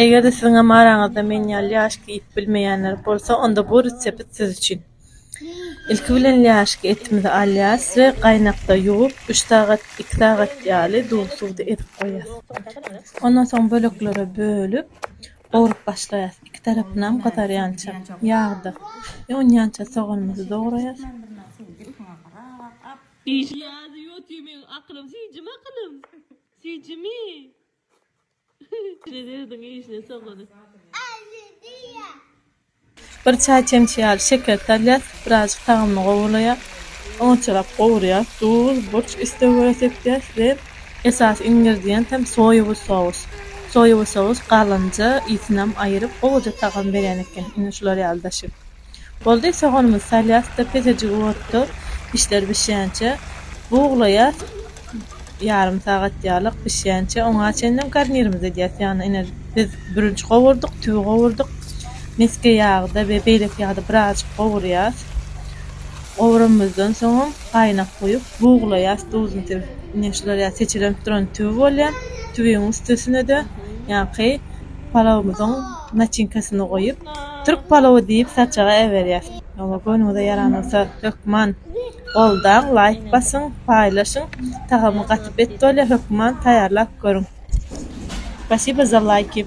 Eger-de siziňem araňyzda men ýaly lýaşka iýip bilmeýänler bolsa, onda bu resept siz üçin. Ilki bilen lýaşka etimizi alýarys we gaýnakda ýuwup, üç sagat, iki sagat ýaly duz suwda ezip goýarys. Ondan soň böleklere bölüp, gowrup başlaýarys, iki tarapynam gyzarýança ýagda. Ýonýança soganymyzy dograýarys. Bir çaý çemçe ýaly şeker salýas, birazjyk tagamy gowulaýar. Onçalap gowurýas, duz, burç islega görä sepýäs we esasy ingrediýent hem soýawy sous. Soýawy sous galynja, ysyny hem aýyryp gowuja tagam berýän eken. Ine şular ýaly daşyp. Boldy, soganymyzy salýas-da, pesejik otda işler bişýänçä buglaýas, ýarym sagat ýalyk bişýänçä oňa çenlem garnirimizi edýäs. Ýagny ine, biz bürünç gowurdyk, tüwi gowurdyk, mesge ýagyda we beýleki ýagda birazajyk gowurýas. Gowuranymyzdan soňam gaýnak guýup, buglaýas, duzuny sebip. Ine, şular ýaly seçelenip duran tüwi bolýar. Tüwiň üstesine-de ýaňky palawymyzyň. Naçinkasyny goýup, türk palowy diýip saçaga äberýäs. Hawa, göwnüňize ýaran bolsa, hökman goldaň, laýk basyň, paýlaşyň. Tagamy gaty bet bolýar, hökman taýýarlap görüň. Spasibo za laýki.